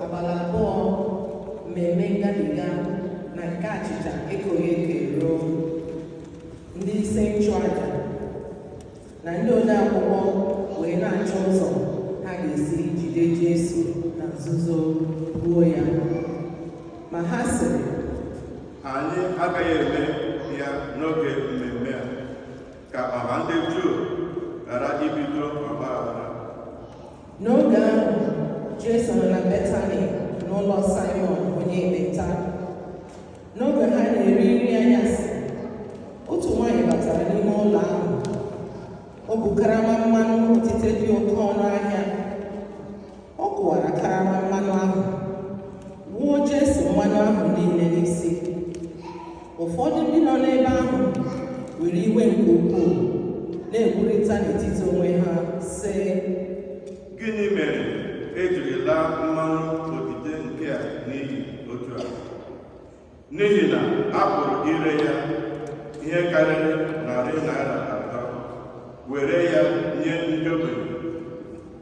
abalị abụọ mmemme ngabiga na nke achịcha ekoghị eko eruo ndị isi nchụaja na ndị odeakwụkwọ wee na-achọ ụzọ ha ga-esi jide Jesu na nzuzo gbuo ya ma ha sịrị anyị agaghị eme ya n'oge mmemme a ka ọha ndị Juu ghara ibido ọgba aghara n'oge ahụ Jesu nọ na Betani n'ụlọ Simon onye ekpenta n'oge ha na-eri nri anyasị otu nwaanyị batara n'ime ụlọ ahụ o bu karama mmanụ otite dị oke ọnụ ahịa ọ kụwara karama mmanụ ahụ wuo Jesu mmanụ ahụ niile n'isi ụfọdụ ndị nọ n'ebe ahụ were iwe nke ukwuu na-ekwurịta n'etiti onwe ha sị gịnị mere e jiri laa mmanụ otite nke a n'iyi otu a n'ihi na a pụrụ ire ya ihe karịrị narị naira atọ were ya nye ndị ogbenye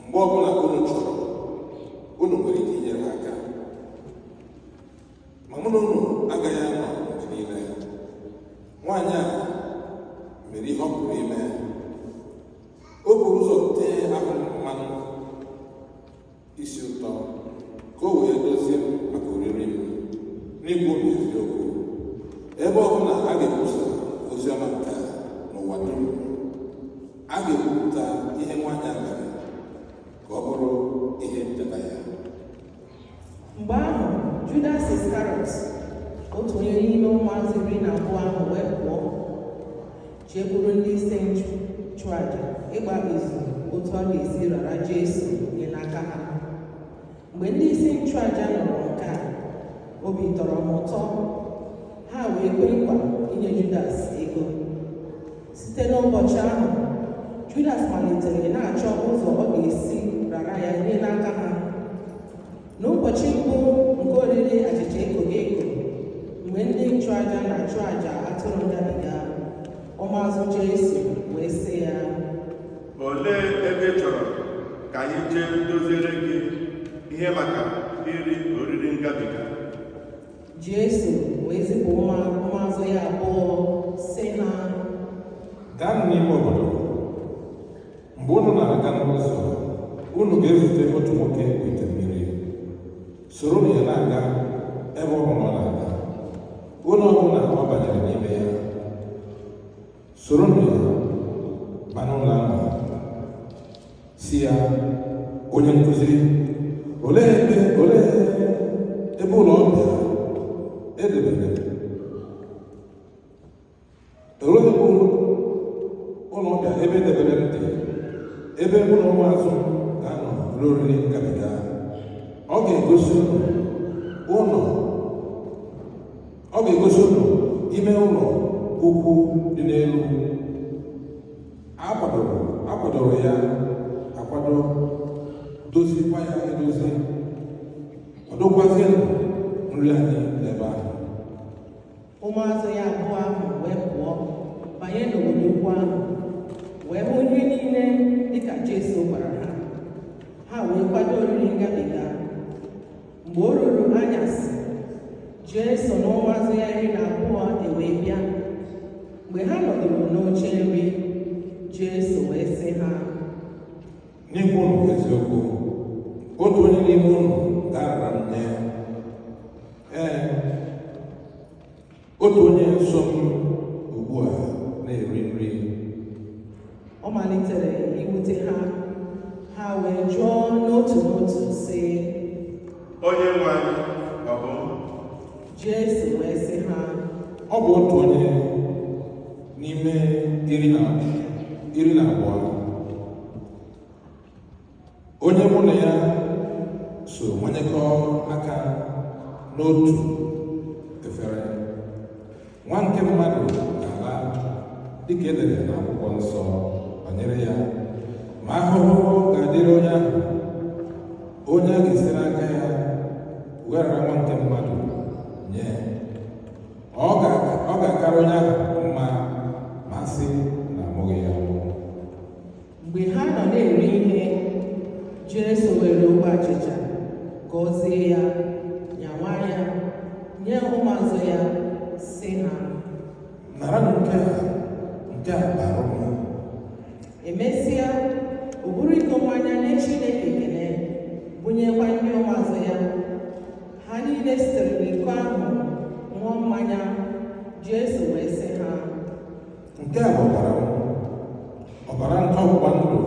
mgbe ọbụla unu chọrọ unu nwere ike inyere ha aka ma mụ na unu agaghị anọ mgbe niile nwaanyị a mere ihe ọ pụrụ ime o buru ụzọ tee ahụ m mmanụ isi ụtọ ka o wee dozie m maka olili m n'ikwu eziokwu ebe ọ bụla a ga-ekwusa ozi ọma nke a n'ụwa dum a ga-ekwupụta ihe nwaanyị a mere ka ọ bụrụ ihe ncheta ya mgbe ahụ Judas Iskarịọt otu onye n'ime ụmụazụ iri na abụọ ahụ wee pụọ jekwuru ndị isi nchụaja ịgba izu otu ọ ga-esi rara Jesu nye n'aka ha mgbe ndị isi nchụaja nụrụ nke a obi tọrọ ha ụtọ ha wee kwe nkwa inye Judas ego site n'ụbọchị ahụ Judas malitere na-achọ ụzọ ọ ga-esi rara ya nye n'aka ha n'ụbọchị mbụ nke oriri achịcha ekoghị eko mgbe ndị nchụaja na-achụ aja atụrụ ngabiga ụmụazụ Jesu wee sị ya olee ebe ị chọrọ ka anyị jee doziere gị ihe maka iri oriri ngabiga Jesu wee zipụ ụmụ- ụmụazụ ya abụọ sị ha gaa n'ime obodo mgbe unu na-aga n'ụzọ unu ga-ezute otu nwoke bu ite mmiri soronụ ya na-aga ebe ọ bụla ọ na-aga ụlọ ọbụla ọ banyere n'ime ya soronụ ya baa n'ụlọ ahụ sị ya onye nkuzi olee ebe olee ebe ụlọ ọbịa e debere olee ebe ụlọ ọbịa ebe e debere m dị ebe mụ na ụmụazụ ga-anọ rie oriri ngabiga ọ ga-egosi unu ọ ga-egosi unu ime ụlọ ukwu dị n'elu a kwadoro a kwadoro ya akwado dozikwaa ya edozi nọdụ kwazie nri anyị n'ebe ahụ ụmụazụ ya abụọ ahụ wee pụọ banye n'obodo ukwu ahụ wee hụ ihe niile dịka Jesu gwara ha ha wee kwado oriri ngabiga mgbe o ruru anyasị Jesu na ụmụazụ ya iri na abụọ ewee bịa mgbe ha nọdụrụ n'oche nri Jesu wee sị ha N'ịgwa unu eziokwu, otu onye n'ime unu ga-arara m nye ya. Ee, otu onye nso m ugbu a na-eri nri. Ọ malitere iwute ha, ha wee jụọ n'otu n'otu sị, Onye nwe anyị, ọ bụ m? Jesu wee sị ha, Ọ bụ otu onye n'ime iri na iri na abụọ onye mụ na ya so manyekọ aka n'otu efere nwa nke mmadụ ga-ala dịka e dere n'akwụkwọ nsọ banyere ya ma ahụhụ ga-adịrị onye ahụ onye a ga-esi n'aka ya wee rara nwa nke mmadụ nye ọ ga-akara onye ahụ mma ma sị na amụghị ya mgbe ha nọ na-eri ihe Jesu weere ogbe achịcha gọzie ya nyawa ya nye ụmụazụ ya sị ha naranụ nke a nke a bụ ahụ m emesịa o buru iko mmanya nye Chineke ekele bunyekwa ndị ụmụazụ ya ha niile sitere n'iko ahụ ṅụọ mmanya Jesu wee sị ha nke a bụ ọbara m ọbara nke ọgbụgba ndụ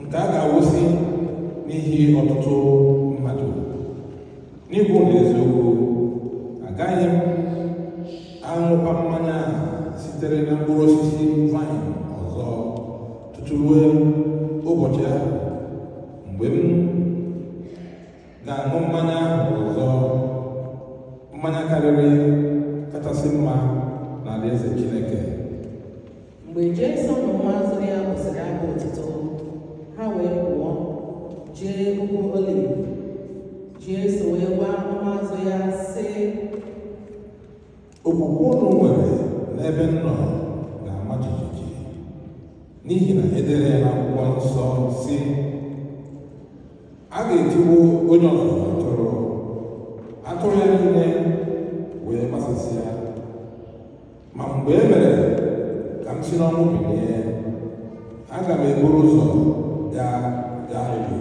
nke a ga-awụsị n'ihi ọtụtụ mmadụ n'ịgwa unu eziokwu agaghị m aṅụkwa mmanya sitere na mkpụrụ osisi vaịn ọzọ tutu ruo ụbọchị ahụ mgbe m ga-aṅụ mmanya ahụ ọzọ mmanya karịrị kachasị mma n'alaeze Chineke mgbe Jesu na ụmụazụ ya bụsịrị abụ otuto ha wee pụọ jee ugwu Oliv Jesu wee gwa ụmụazụ ya sị Okwukwe unu nwere n'ebe m nọ ga-ama jijiji n'ihi na e dere ya n'akwụkwọ nsọ sị a ga-etigbu onye ọzụzụ atụrụ atụrụ ya niile wee gbasasịa ma mgbe e mere ka m si n'ọnwụ bilie aga m eburu ụzọ gaa Galili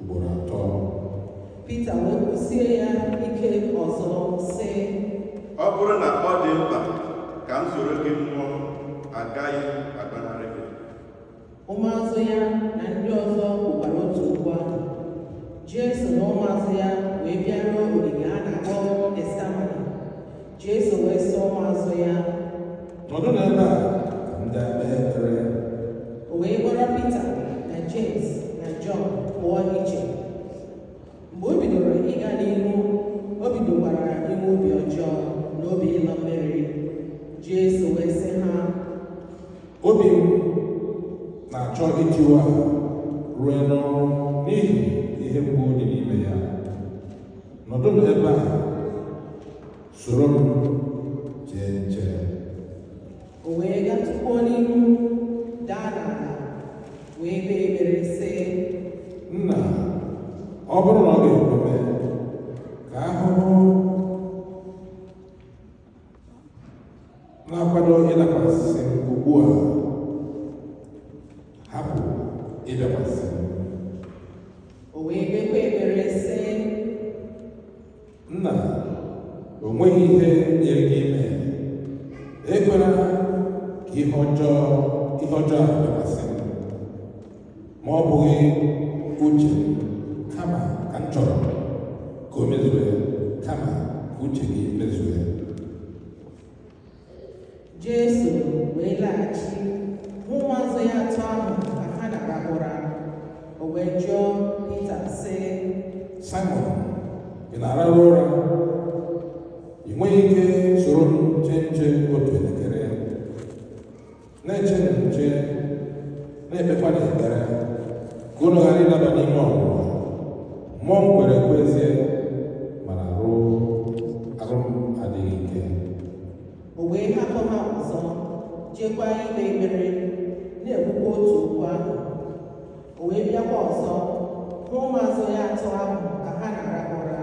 ugboro atọ Pita wee kwụsie ya ike ọzọ sị ọ bụrụ na ọ dị mkpa ka m soro gị nwụọ agaghị m agbanarị gị ụmụazụ ya ndị ọzọ kwukwara otu okwu ahụ Jesu na ụmụazụ ya wee bịaruo ogige a na-akpọ Getsemane Jesu wee sị ụmụazụ ya nọdụ n'ebe a ka m gaa kpee ekpere o wee kpọrọ Pita na Jems na Jọn pụọ iche mgbe o bidoro ịga n'ihu o bidokwara inwe obi ọjọọ na obi ịlọ mmiri Jesu wee sị ha obi m na-achọ itiwa ruo n'ọnwụ n'ihi ihe mgbu dị n'ime ya nọdụ n'ebe a soro m chee nche o wee gatụkwuo n'ihu daa n'ala wee kpee ekpere sị nna ọ bụrụ na ọ ga-ekwe mee ka ahụhụ na-akwado ịdakwasị m ugbu a hapụ ịdakwasị m o wee kpekwa ekpere sị nna o nweghị ihe nyịrị gị ime ekwela ka ihe ọjọọ ihe ọjọọ a ma ọ bụghị uche kama ka m chọrọ ka o mezue kama ka uche gị mezue Jesu wee laghachi hụ ụmụazụ ya atọ ahụ ka ha na-arahụ ụra o wee jụọ Pita sị Simon ị na-arahụ ụra ị nweghị ike soro m chee nche otu elekere na-echenụ nche na-ekpekwanụ ekpere ka unu ghara ịdaba n'ime ọnwụnwa mmụọ m kwere ekwe ezie mana anụ ahụ m adịghị ike o wee hapụ ha ọzọ jekwa ikpe ekpere na-ekwukwa otu okwu ahụ o wee bịakwa ọzọ hụ ụmụazụ ya atọ ahụ ka ha na-arahụ ụra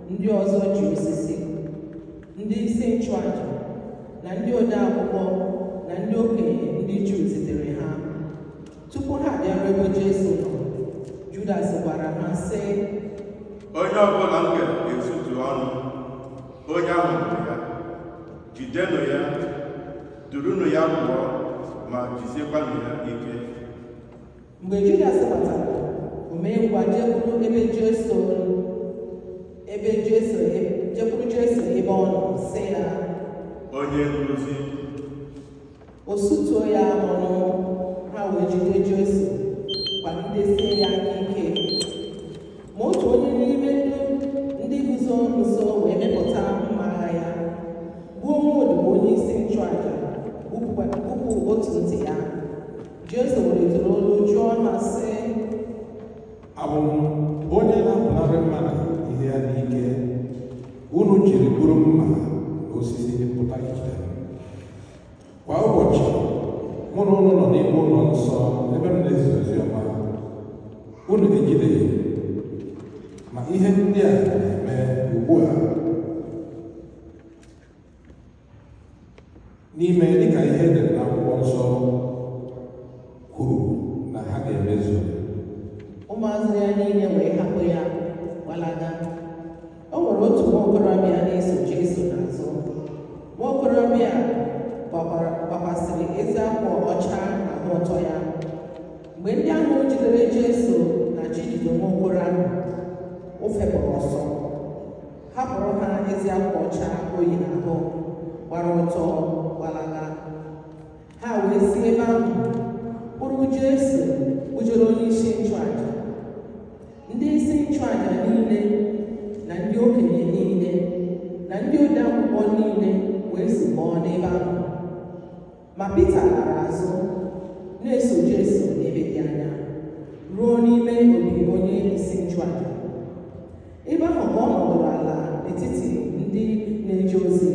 ndị ọzọ ji osisi ndị isi nchụaja na ndị ode akwụkwọ na ndị okenye ndị Juu zitere ha tupu ha abịaruo ebe Jesu nọ Judas gwara ha sị onye ọbụla m ga-esutu ọnụ onye ahụ bụ ya jidenụ ya durunụ ya pụọ ma jisiekwanụ ya ike mgbe Judas batara o mee ngwa jekwuru ebe Jesu ebe Jesu jekwuru Jesu ebe ọ nọ sị ya onye nkuzi o sutuo ya ọnụ ha wee jide Jesu gbagidesie ya aka ike ma otu onye n'ime ndị ndị guzo nso wee mịpụta mma agha ya gbuo nwa odibo onye isi nchụaja gbupụ otu ntị ya Jesu welitere olu jụọ ha sị abụ m onye na-apụnarị mmadụ ihe ya n'ike unu jiri buru mma na osisi pụta ijide m kwa ụbọchị mụ na ụnụ nọ n'ime ụlọ nsọ ebe m na-ezi ozi ọma unu ejideghị m. ma ihe ndị a na-eme ugbu a na-eme dịka ihe e dere n'akwụkwọ nsọ kwuru na ha ga-emezu ụmụazụ ya niile wee hapụ ya gbalaga o nwere otu nwa okorobịa na-eso Jesu n'azụ nwa okorobịa gbakwasịrị ezi akwa ọcha n'ahụ ọtọ ya mgbe ndị ahụ jidere Jesu na-achọ ijide nwa okoro ahụ o fepụrụ ọsọ hapụrụ ha ezi akwa ọcha o yi n'ahụ gbara ọtọ gbalaga ha wee si ebe ahụ kpụrụ Jesu kpụjere onye isi nchụaja ndị isi nchụaja niile na ndị okenye niile na ndị ode akwụkwọ niile wee zukọọ n'ebe ahụ Ma Pita gara azụ na-eso Jesu n'ebe dị anya ruo n'ime obi onye isi nchụaja. Ebe ahụ ka ọ nọdụrụ ala n'etiti ndị na-eje ozi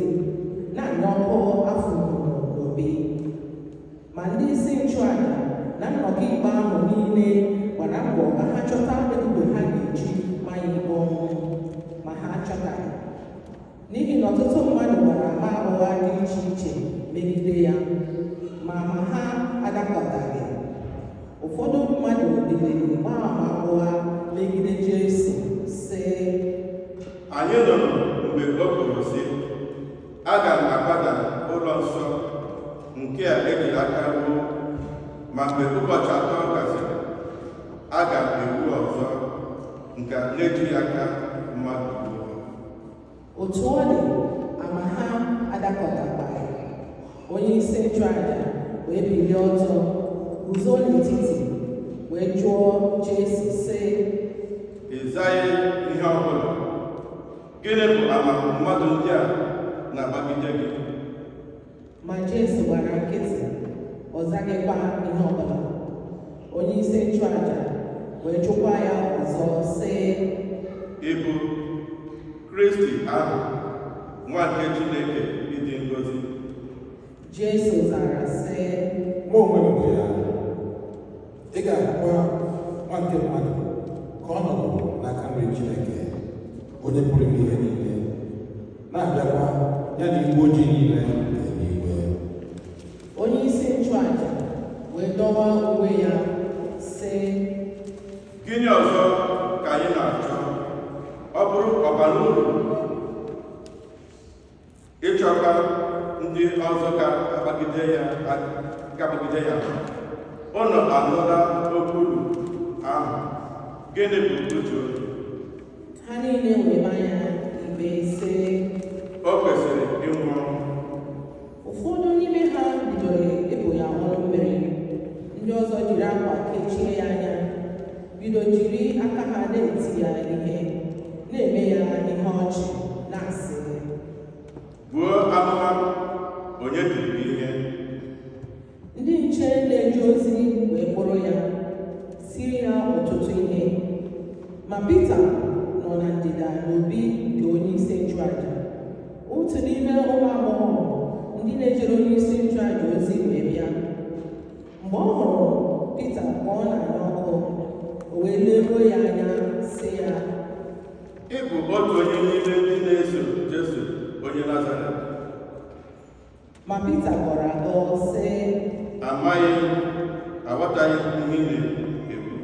na-anya ọkụ afọ n'obi. Ma ndị isi nchụaja na nnọkọ ikpe ahụ niile gbara mbọ ka ha chọta ebubo ha ga-eji ma ya ikpe ọnwụ n'ihi na ọtụtụ mmadụ gbara ama ụgha dị iche iche megide ya ma ama ha adakọtaghị ụfọdụ mmadụ biliri gbaa ama ụgha megide Jesu sị Anyị nụrụ mgbe o kwuru sị, Aga m akwada ụlọ nsọ nke a e jiri aka wuo, ma mgbe ụbọchị atọ gasịrị, aga m ewu ọzọ nke a na-ejighị aka mmadụ otu ọ dị ama ha adakọtakwaghị onye isi nchụaja wee bilie ọtọ guzo n'etiti wee jụọ Jesu sị ị zaghị ihe ọ bụla gịnị bụ ama mmadụ ndị a na-agbagide gị ma Jesu gbara nkịtị ọ zaghịkwa ihe ọbụla onye isi nchụaja wee jụkwa ya ọzọ sị ị bụ kristi ahụ nwa nke chineke dị ngọzi Jesu zara sị mụ onwe m bụ ya ị ga-ahụkwa nwa nke mmadụ ka ọ nọdụ n'aka nri Chineke onye pụrụ ime ihe niile na-abịakwa ya na igwe ojii niile n'eluigwe onye isi nchụaja wee dọwa uwe ya sị gịnị ọzọ ka anyị na-achọ ọ bụrụ ọ bara uru ịchọta ndị ọzọ ga-agbagide ya ga-agbagide ya unu anụla nkwulu ahụ gịnị bụ uche unu ha niile wee ma ya ikpe sị o kwesịrị ịnwụ ọnwụ ụfọdụ n'ime ha bidoro ịbụ ya ọnụ mmiri ndị ọzọ jiri akwa kechie ya anya bido jiri aka ha na-eti ya ihe na-eme ya ihe ọchị na-asị buo amụma onye tiri ihe ndị nche na-eje ozi wee kpụrụ ya tiri ya ọtụtụ ihe ma Pita nọ na ndịda n'obi nke onye isi nchụaja otu n'ime ụmụ agbọghọ ndị na-ejere onye isi nchụaja ozi wee bịa mgbe ọ hụrụ Pita ka ọ na-anya ọkụ o wee leruo ya anya sị ya ị bụ otu onye n'ime ndị na-eso Jesu onye Nazaret ma Pita gọrọ agọ sị amaghị m aghọtaghị m ihe ị na-ekwu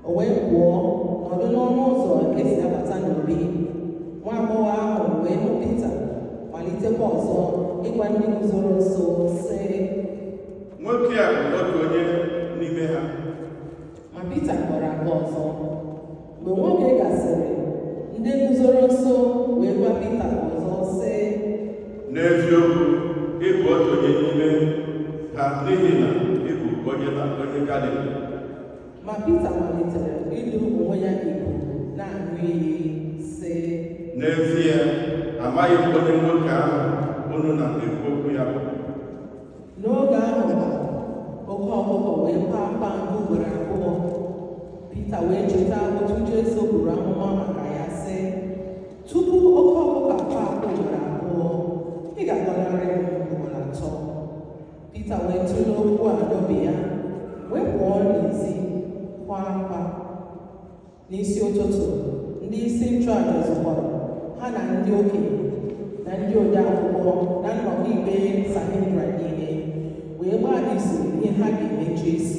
o wee pụọ nọdụ n'ọnụ ụzọ nke e si abata n'obi nwa agbọghọ ahụ wee hụ Pita malitekwa ọzọ ịgwa ndị guzoro nso sị nwoke a bụ otu onye n'ime ha ma Pita gọrọ agọ ọzọ mgbe nwa oge gasịrị ndị guzoro nso wee gwa Pita ọzọ sị n'eziokwu ị bụ otu onye n'ime ha n'ihi na ị bụ onye na onye Galili Ma Pita malitere ịbụ onwe ya ọnụ na-aṅụ iyi sị N'ezie, amaghị m onye nwoke ahụ unu na-ekwu okwu ya bụ. N'oge ahụ kwa, oke ọkụkọ wee kwaa akwa nke ugboro abụọ. Pita wee cheta otu Jesu buru amụma maka ya sị tupu oke ọkụkọ akwaa akwa ugboro abụọ ị ga-agọnarị m ugboro atọ. Pita wee tụlee okwu a n'obi ya wee pụọ n'ezi kwaa akwa n'isi ụtụtụ ndị isi nchụaja zukọrọ ha na ndị okenye na ndị ode akwụkwọ na nnọkọ ikpe Sanhedrin niile wee gbaa izu ihe ha ga-eme Jesu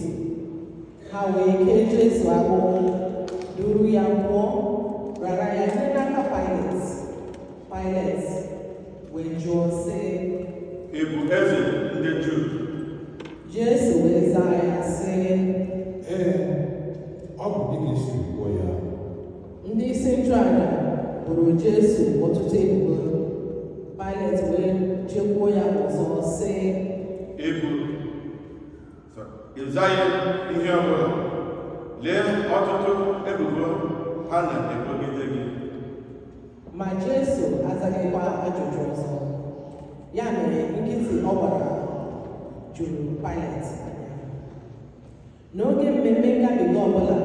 ha wee kee Jesu agbụ duru ya pụọ rara ya nye n'aka Pailet Pailet wee jụọ sị ị bụ eze ndị Juu Jesu wee zaa ya sị ee ọ bụ dịka i si kwuo ya ndị isi nchụaja boro Jesu ọtụtụ ebubo Pailet wee jekwuo ya ọzọ sị ị bụ ị zaghị ihe ọbụla lee ọtụtụ ebubo ha na-ebogide gị ma Jesu azaghịkwa ajụjụ ọzọ ya mere nkịtị ọ gbara juru Pailet n'oge mmemme ngabiga ọbụla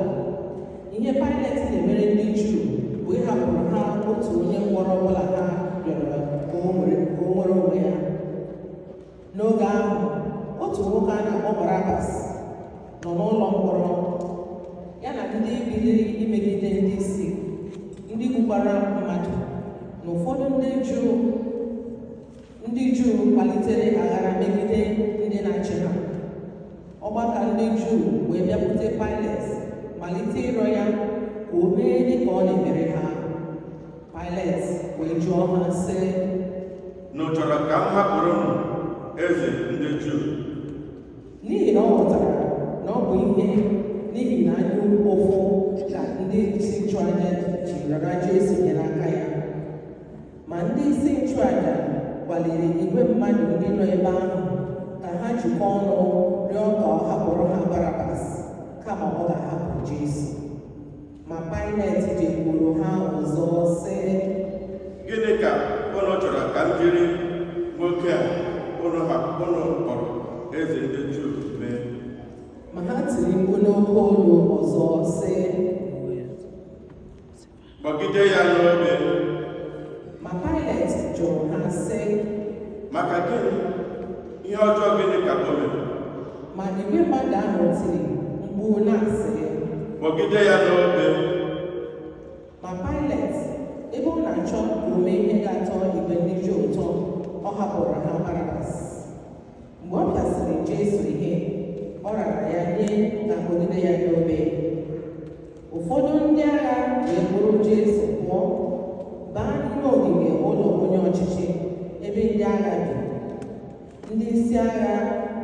ihe Pailet na-emere ndị Juu bụ ịhapụrụ ha otu onye mkpọrọ ọbụla ha rịọrọ ka o nwere onwe ya n'oge ahụ otu nwoke a na-akpọ Barabas nọ n'ụlọ mkpọrọ ya na ndị biliri imegide ndị isi ndị gbukwara mmadụ na ụfọdụ ndị Juu ndị Juu kpalitere aghara megide ndị na-achị ha ọgbakọ ndị Juu wee bịakwute Pailet malite ịrịọ ya ka o mee dị ka ọ na-emere ha Pailet wee jụọ ha sị unu chọrọ ka m hapụrụ unu eze ndị Juu n'ihi na ọ ghọtara na ọ bụ ihe n'ihi na anya ụfụ ka ndị isi nchụaja ji rara Jesu nye n'aka ya ma ndị isi nchụaja kwaliri igwe mmadụ ndị nọ ebe ahụ ka ha jikọọ ọnụ rịọ ka ọ hapụrụ ha Barabas kama ọ ga-ahapụ Jesu Ma Pailet jekwuru ha ọzọ sị, Gịnị ka ụnụ chọrọ ka m jiri nwoke a ụnụ ha ụnụ kpọrọ eze ndị Juu mee? Ma ha tiri mkpu n'oke olu ọzọ sị, Kpọgide ya n'obe. Ma Pailet jụrụ ha sị, Maka gịnị? Ihe ọjọọ gịnị ka o mere? Ma igwe mmadụ ahụ tiri mkpu na-asị, Kpọgide ya n'obe! Ma Pailet, ebe ọ na-achọ ime ihe ga-atọ igwe ndị Juu ụtọ, ọ hapụrụ ha Barabas. mgbe ọ pịasịrị Jesu ihe ọ rara ya nye ka a kpọgide ya n'obe ụfọdụ ndị agha wee kpụrụ Jesu pụọ baa n'ime ogige ụlọ onye ọchịchị ebe ndị agha bi ndị isi agha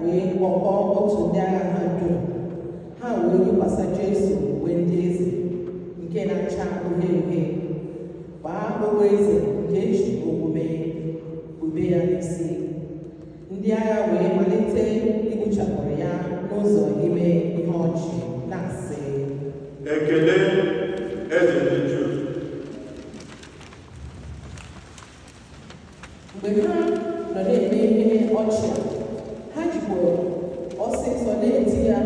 wee kpọkọọ otu ndị agha ha dum ha wee yikwasa Jesu uwe ndị eze nke na-acha uhie uhie kpaa okpu eze nke e ji ogwu mee kpube ya n'isi ndị agha wee malite igbuchapụrụ ya n'ụzọ ime ihe ọchị na-asị ekele eze ndị juu mgbe ha nọ na-eme ihe ọchị a, ha jikwa ọsịsọ na-eti ya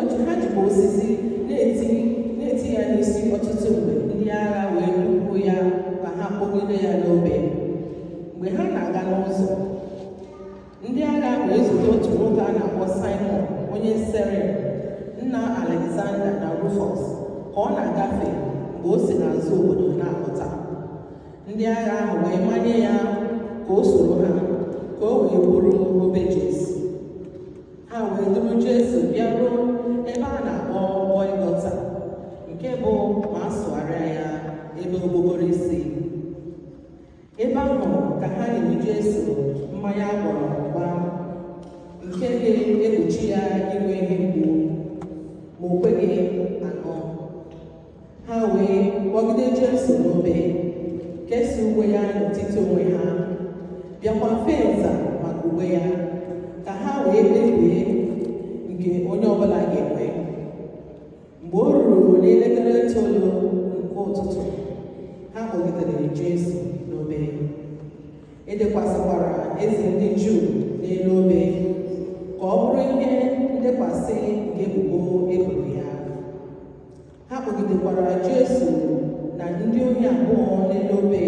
ọchị ha jikwa osisi na-eti na-eti ya n'isi ọtụtụ mgbe ndị agha wee kpụpụ ya ka ha kpọgide ya n'obe mgbe ha na-aga n'ụzọ ndị agha ahụ ezute otu nwoke a na-akpọ Simon onye Sairini nna Alexander na Rufus ka ọ na-agafe mgbe o si n'azụ obodo na-apụta ndị agha ahụ wee manye ya ka o soro ha ka o wee buru obe Jesu ha wee duru Jesu bịaruo ebe a na-akpọ Gọlgọta nke bụ ma a sụgharịa ya ebe okpokoro isi ebe ahụ ka ha nyere Jesu mmanya a gwara ọgwa nke ga-egbochi ya inwe ihe mgbu ma o kweghị aṅụ ha wee kpọgide Jesu n'obe kesa uwe ya n'etiti onwe ha bịakwa fee nza maka uwe ya ka ha wee kpebie nke onye ọbụla ga-enwe mgbe o ruru n'elekere itoolu nke ụtụtụ ha kpọgidere Jesu n'obe edekwasịkwara eze ndị Juu n'elu obe ka ọ bụrụ ihe ndekwasị nke ebubo e boro ya ha kpọgidekwara Jesu na ndị ohi abụọ n'elu obe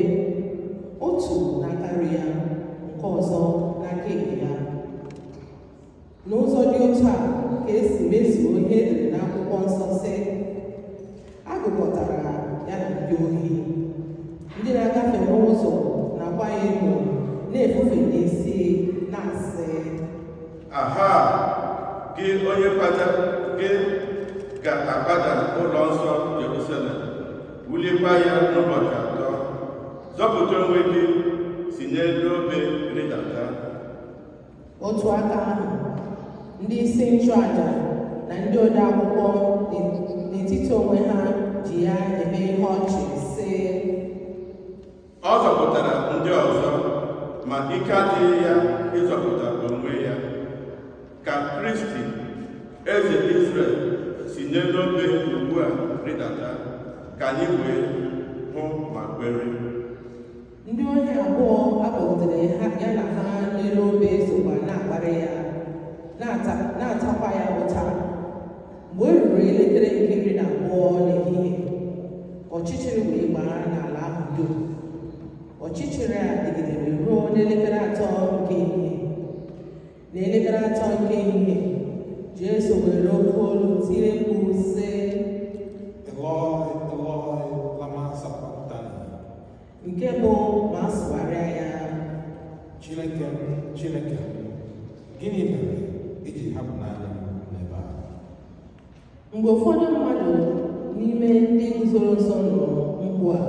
otu n'aka nri ya nke ọzọ n'aka ekpe ya N'ụzọ dị otu a ka e si mezuo ihe e dere n'akwụkwọ nsọ sị a gụkọtara ya na ndị ohi ndị na-agafe n'ụzọ na-akwa ya emo na-efufe n'isi na-asị aha gị onye kpata gị ga-akwada ụlọ nsọ Jerusalem wulikwa ya n'ụbọchị atọ zọpụta onwe gị si n'elu obe rịdata otu aka ahụ ndị isi nchụaja na ndị odeakwụkwọ n'etiti onwe ha ji ya eme ihe ọchị sị ọ zọpụtara ndị ọzọ ma ike adịghị ya ịzọpụta onwe ya ka kristi eze israel si n'elu obe ugbu a rịdata ka anyị wee hụ ma kwere ndị ohi abụọ a kpọgidere ya na ha n'elu obe sokwa na-akparị ya na-atakwa ya ụta mgbe o ruru elekere nke iri na abụọ n'ehihie ọchịchịrị wee gbaa n'ala ahụ dum ọchịchịrị a dịgidere ruo n'elekere atọ nke ehihie n'elekere atọ nke ehihie jesu were oke olu tie mkpu sị nke bụ ma a sụgharịa ya Chineke m, Chineke m, gịnị mere i ji hapụ naanị m n'ebe a? mgbe ụfọdụ mmadụ n'ime ndị guzoro nso nụrụ mkpu a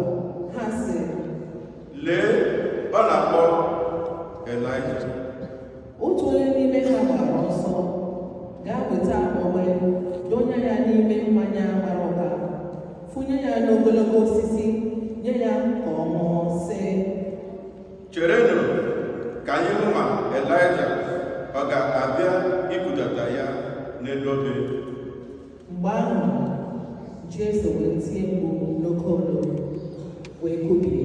ha sị Lee, ọ na-akpọ Elaịja. otu onye n'ime ha gbara ọsọ gaa weta ogbo donye ya n'ime mmanya gbara ụka fụnye ya n'ogologo osisi nye ya ka ọ ṅụọ sị cherenụ ka anyị hụ ma elaịja ọ ga-abịa ibudata ya n'elu obe mgbe ahụ jesu wee tie mkpu n'oke olu wee kubie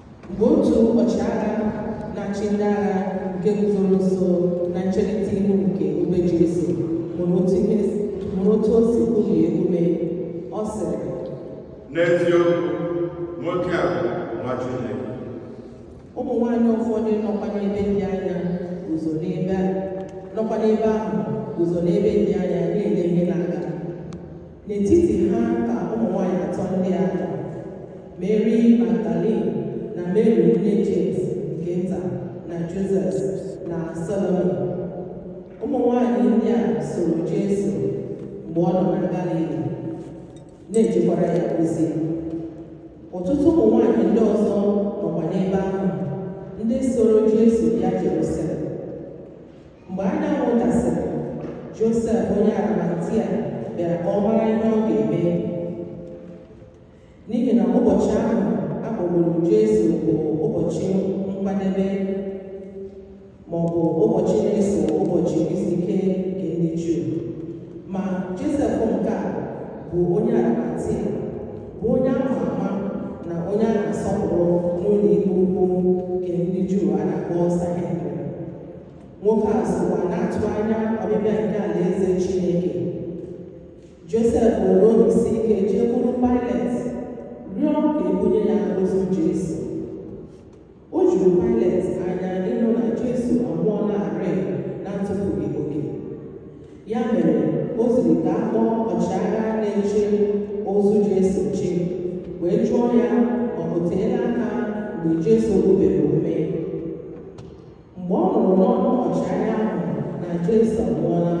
mgbe otu ọchịagha na-achị ndị agha nke guzoro nso na ncherịta ihu nke obe Jesu hụrụ otu ihe hụrụ otu o si kubie ume ọ sịrị N'eziokwu, nwoke a bụ nwa Chineke. ụmụ nwaanyị ụfọdụ nọkwa n'ebe dị anya guzo n'ebe a- nọkwa n'ebe ahụ guzo n'ebe dị anya na-ele ihe na-aga N'etiti ha ka ụmụ nwanyị atọ ndị a nọ, Meri Magdalin na Meri nne Jems nke nta na Josef na Salomi. Ụmụ nwanyị ndị a soro Jesu mgbe ọ nọ na Galili, na-ejekwara ya ozi. Ọtụtụ ụmụ nwanyị ndị ọzọ nọkwa n'ebe ahụ, ndị soro Jesu bịa Jerusalem. mgbe anyanwụ dasịrị josef onye arimatia bịara ka ọ mara ihe ọ ga-eme n'ihi na ụbọchị ahụ a kpọgburu jesu bụ ụbọchị nkwadebe ma ọ bụ ụbọchị na-eso ụbọchị izu ike nke ndị juu ma josef nke a bụ onye arimatia bụ onye a ma ama na onye a na-asọpụrụ n'ụlọ ikpe ukwu nke ndị juu a na-akpọ sanhedrin nwoke a sokwa na-atụ anya ọbịbịa nke alaeze Chineke Josef nwere obi si ike jekwuru Pailet rịọ ka e bunye ya ozu Jesu o juru Pailet anya ịnụ na Jesu anwụọlarị na ntụfughị oge ya mere o ziri ka a kpọọ ọchịagha na-eche ozu Jesu nche wee jụọ ya ma o teela aka mgbe Jesu kubiri ume mgbe ọ nụrụ n'ọnụ ọchịagha ahụ na Jesu anwụọla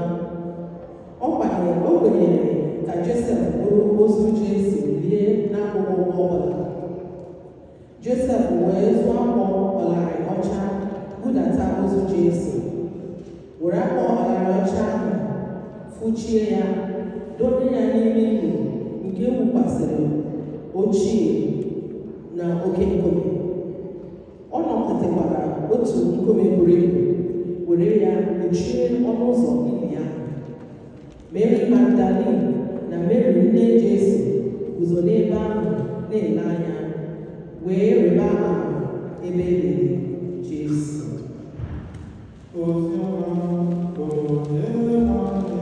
ọ kwanyere o kwenyere ka Josef buru ozu Jesu lie n'akụkụ ọbụla Josef wee zụọ akwa ọlarị ọcha budata ozu Jesu were akwa ọlarị ọcha ahụ fụchie ya donye ya n'ime ili nke e wukwasịrị ochie n'oke nkume o nukọtakwara otu nkume buru ibu were ya kpuchie ọnụ ụzọ ili ahụ meri magdalin na meri nne jesu guzo n'ebe ahụ na-ele anya wee rịba ama ebe e liri jesu Oziọma bụ eze nwanne